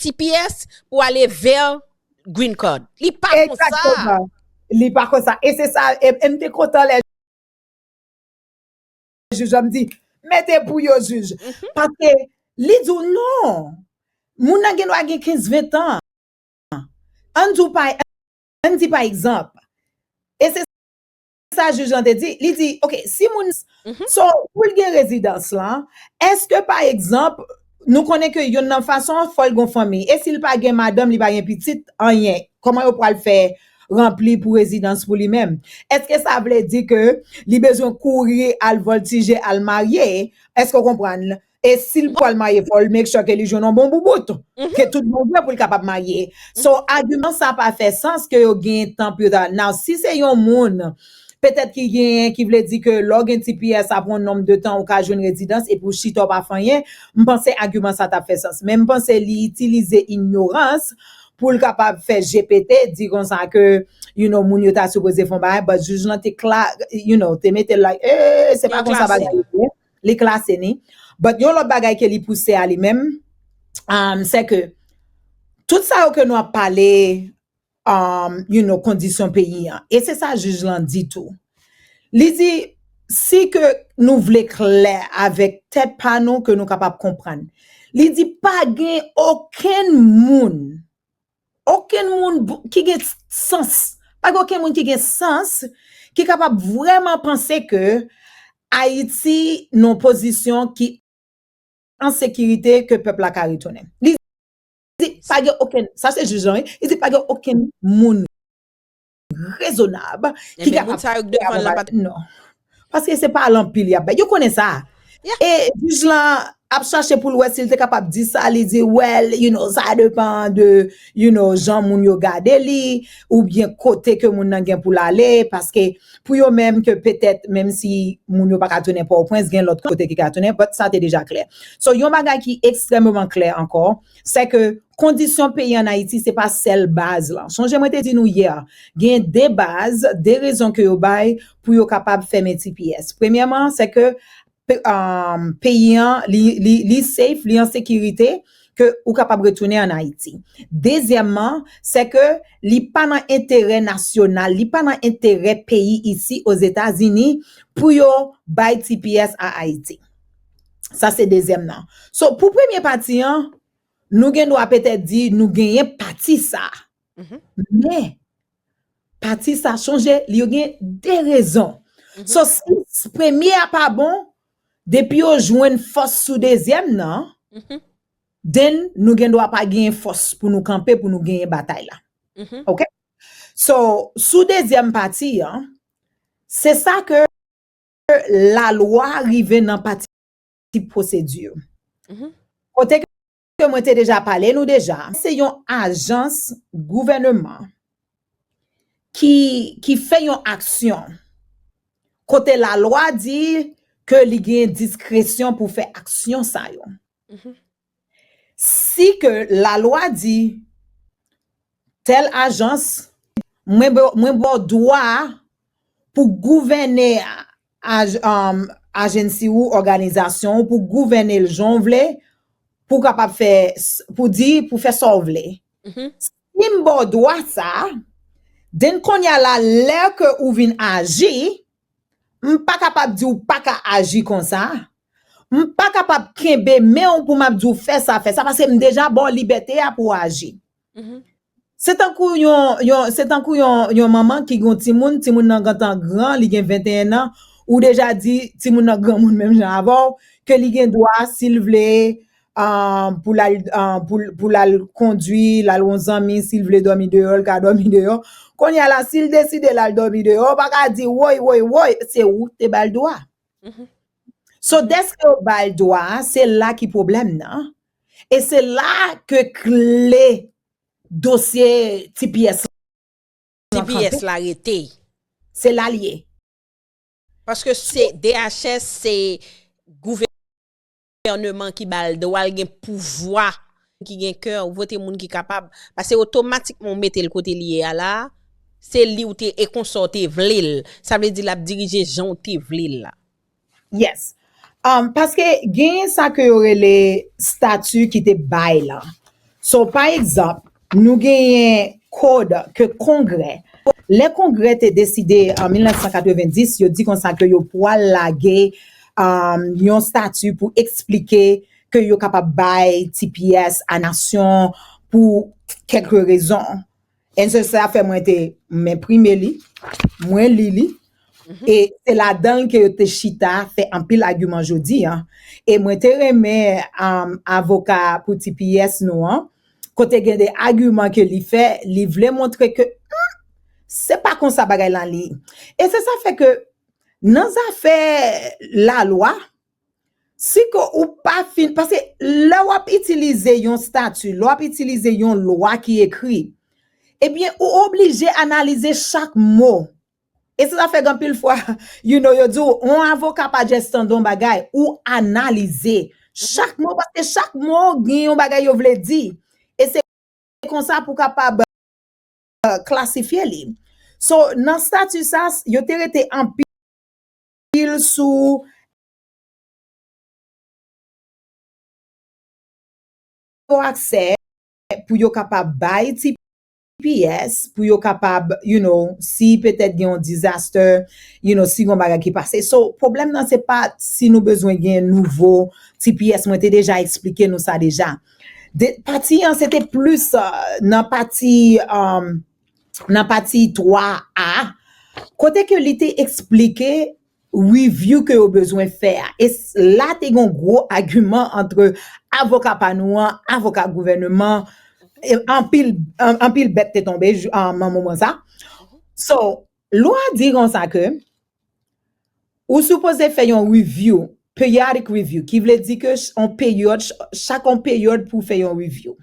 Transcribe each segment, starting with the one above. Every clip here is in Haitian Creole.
tps pou ale ver green card li pa konsa li pa konsa e se sa e mte kontan lè jij la mdi mete pou yo jij paske li di ou non moun nan gen dwa gen 15 20 tan an di ou pa an di pa egzanp e se sa juge lan te di li di ok si moun so poul gen rezidans lan eske pa egzanp nou konnen ke yonn nan fason an fòl gon fanmi e sil pa gen madanm li pa gen pitit anyen kòman yo pwal fè ranpli pou rezidans pou li menm eske sa vle di ke li bezwen kouri al voltije al marye eske w konprann. E sil pwal maye fòl make sure ke li jwenn yon bon boubout ke tout bon vre poul kapab maye. So agiman sa pa fè sans ke yo gen tan pou yo ta now si se yon moun petèt ki genyen ki vle di ke lè w gen ti piyè sa pran yon nonb de tan ou ka jwenn rezidans epi w chita w pa fè anyen m panse agiman sa tap fè sans men m panse li itilize inyorans poul kapab fè je pete di konsa ke you know moun yo ta sipoze fè yon bagay but jij lan te kla you know te mete l like ee se pa konsa bagay yo ye. li klase ni but yon lòt bagay ke li pouse a li menm am sè ke tout sa yo ke nou ap pale am you know kondisyon peyi an e se sa jij lan di tou li di si ke nou vle klè avèk tèt pa nou ke nou kapab konprann li di pa gen okenn moun Okenn moun ki gen sans, pa gen okenn moun ki gen sans ki kapab vrèman panse ke Ayiti nan pozisyon ki an sekirite ke pèp la ka retounen. Li di pa gen okenn, sa se jij lan wi, li di pa gen okenn moun. rezonab ki kapab fè yon bagay sa yo ki non paske se pa al anpil yap bay yo konnen sa e jij la ap chache pou l wè si l te kapab di sa li di wèl you know sa depan de you know jan moun yo gade li ou byen kote ke moun nan gen pou l ale paske pou yo menm ke petèt menm si moun yo pa ka tounen pòwprens gen lòt kote ki ka tounen bòt sa te deja klè so yon bagay ki ekstrèmeman klè ankò. sè ke kondisyon peyi an Ayiti se pa sèl baz lan. Sonje mwen te di nou yè, gen de baz, de rezon ke yo bay pou yo kapab fèmen tps. Premyèman, sè ke peyi an li safe, li an sekirite, ke ou kapab retounen an Ayiti. Dezyèmman, sè ke li pa nan enterè nasyonal, li pa nan enterè peyi isi Ozetazini pou yo bay tps a Ayiti. Sa se dezyèm nan. So, pou premye pati an, nou gen dwa petè di nou genyen pati sa. Men, pati sa, sonje, li yo gen de rezon. So, si premye a pa bon, depi yo jwenn fòs sou dezyèm nan, then nou gen dwa pa genyen fòs pou nou kanpe, pou nou genyen batay la. Ok? So, sou dezyèm pati an, se sa ke. Ke lalwa rive nan pati pwosedi yo. Kote ke mwen te deja pale nou deja. Se yon ajans gouvèneman ki fè yon aksyon. Kote lalwa di ke li gen diskresyon pou fè aksyon sa yo. Si ke la lwa di tèl ajans mwen baw dwa pou gouvène agency ou òganizasyon ou pou gouvène l jan w vle pou kapab fè pou di pou fè sa w vle si m baw dwa sa den konya la lè ke ou vin aji m pa kapab di w pa ka aji konsa. M pa kapab kenbe men w pou m ap di w fè sa, fè sa, paske m deja ba w libète a pou w aji. Se tankou yon, se tankou yon, yon manman ki gen yon timoun, timoun nan gentan gran, li gen 21 nan, ou deja di timoun nan granmoun menm jan avè w, ke li gen dwa si l vle pou l al, pou l al kondwi, l al wè yon zanmi, si l vle dòmi deyò, l ka dòmi deyò. Kounya la, si l deside l al dòmi deyò, ou pa ka di, woy, woy, woy, se ou ki te ba l dwa. So deske yo bal dwa a se la ki pwoblèm nan e se la ke kle dosye tps lan kanpe. Se la l ye. Paske DHS se gouvènman. gouvèneman ki bal dwa l gen pouvwa ki gen kè ou vote moun ki kapab pase otomatikman ou mete l kote li ye a la a se li ou te e konsa ou te vle l sa vle di l ap dirije jan ou te vle l la. Yes paske genyen sa ke yo rele stati ki te bay lan so pa egzanp Nou genyen kod ke kongrè, lè kongrè te deside an 1990 yo di konsa ke yo pwal lage yon stati pou eksplike ke yo kapab bay tps a nasyon pou kèk rezon. En se sa fè mwen te m enprime li, mwen li li e se ladan l ke yo te chita fè anpil agiman jodi an. E mwen te renmen avoka pou tps nou an, Kote gen de agiman ke li fè, li vle montre ke humm, se pa konsa bagay lan li. E se sa fè ke nan zafè la lwa, si ke ou pa fin, paske lè w ap itilize yon stati, lè w ap itilize yon lwa ki ekri, ebyen ou oblije analize chak mo E sa fè anpil fwa you know yo di w on avoka pa just tande on bagay, ou analize chak mo paske chak mo gen yon bagay yo vle di e se konsa pou kapab klasifye li. So nan stati sa yo te rete anpil sou aksè pou yo kapab bay ti Ps pou yo kapab you know si petèt gen yon disaster you know si gen yon bagay ki pase so pwoblèm nan se pa si nou bezwen gen nouvo tps mwen te deja esplike nou sa deja de pati an se te plis nan pati nan pati 3 a kote ke li te esplike review ke yo bezwen fè a. E la te gen yon gwo agiman antre avoka pa nou an, avoka gouvèneman, anpil bèt te tonbe nan moman sa. So, lwa di konsa ke ou sipoze fè yon review, periodic review, ki vle di ke chak yon peryòd pou fè yon review.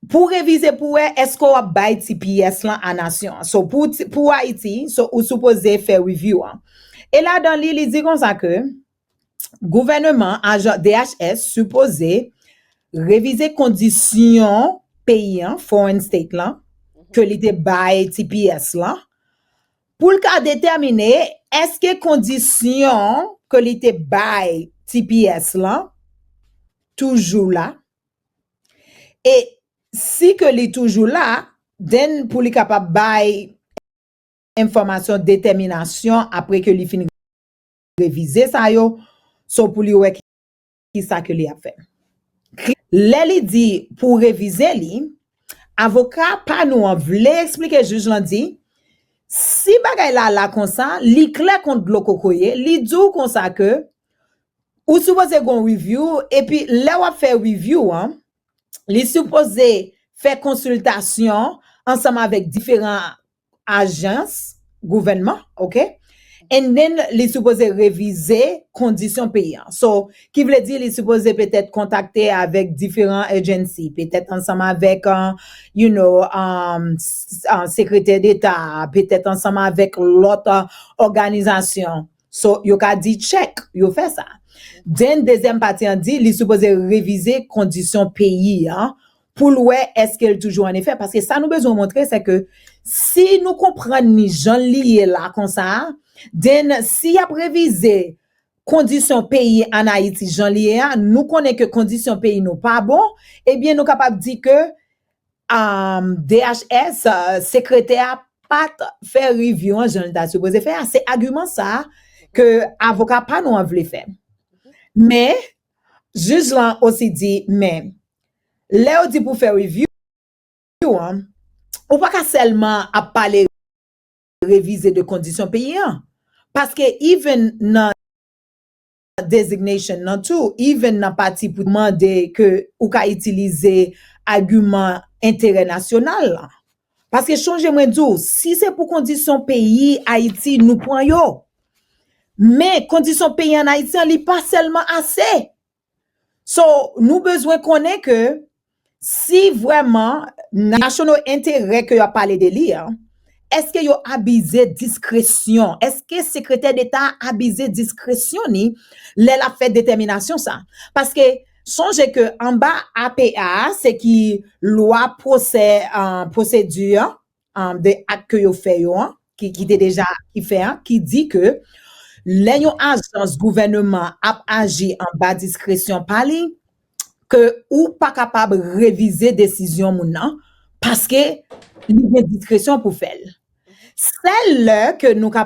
Pou w revize pou wè eske w ap bay ti pyès lan a nasyon an. So pou pou Ayiti, so ou sipoze fè review an. E ladan li, li di konsa ke gouvèneman ajan DHS sipoze revize kondisyon peyi an, foreign state lan, ke li te bay ti pyès lan, pou l ka detèmine eske kondisyon ke li te bay ti pyès lan toujou la, E si ke li toujou la, then pou li kapab bay enfòmasyon detèminasyon apre ke li fin revize sa yo, so pou li wè ki sa ke li ap fè. Lè li di pou revize li, avoka pa nou an vle esplike jij lan di, si bagay la la konsa, li klè kon dlo kokoye, li di w konsa ke Ou sipoze gon review epi lè wap fè review an li sipoze fè konsiltasyon ansanm avèk diferan ajans gouvènman ok and then li sipoze revize kondisyon peyi an so ki vle di li sipoze petèt kontakte avèk diferan agency petèt ansanm avèk you know sekretè deta petèt ansanm avèk lòt òganizasyon. So, yo ka di check, yo fè sa. Den dezyèm pati an di li sipoze revize kondisyon peyi an pou l wè èske l toujou an efè paske sa nou bezwen montre se ke si nou konprann li jan l li ye la konsa a, den si y ap revize kondisyon peyi an Ayiti jan l ye a, nou konnen ke kondisyon peyi nou pa bon, ebyen nou kapab di ke DHS, Sekretè a pat fè review an jan li ta sipoze fè a, se agiman sa ke avoka pa nou an vle fè. Men, jij lan osi di, men, lè yo di pou fè review an, ou pa ka sèlman ap pale revize de kondisyon peyi an. Paske even nan. designation nan tou even nan pati pou mande ke ou ka itilize agiman enterè nasyonal lan. Paske chonje mwen di w, si se pou kondisyon peyi Ayiti nou pran yo, men kondisyon peyi an Ayiti an li pa sèlman ase. So nou bezwen konnen ke Si vrèman national enterè ke yo ap pale de li an, eske yo abize diskresyon, eske sekretè deta a abize diskresyon ni lè l ap fè detèminasyon sa? Paske sonje ke anba APA a se ki lwa pwosè, pwosedi an, um, de ak ke yo fè yo an, ki, ki te deja ki fè an, ki di ke lè yon ajans gouvèneman ap aji anba diskresyon pa li, ke ou pa kapab revize desizyon moun nan, paske li gen diskresyon pou fè l. Sèl lè ke nou ka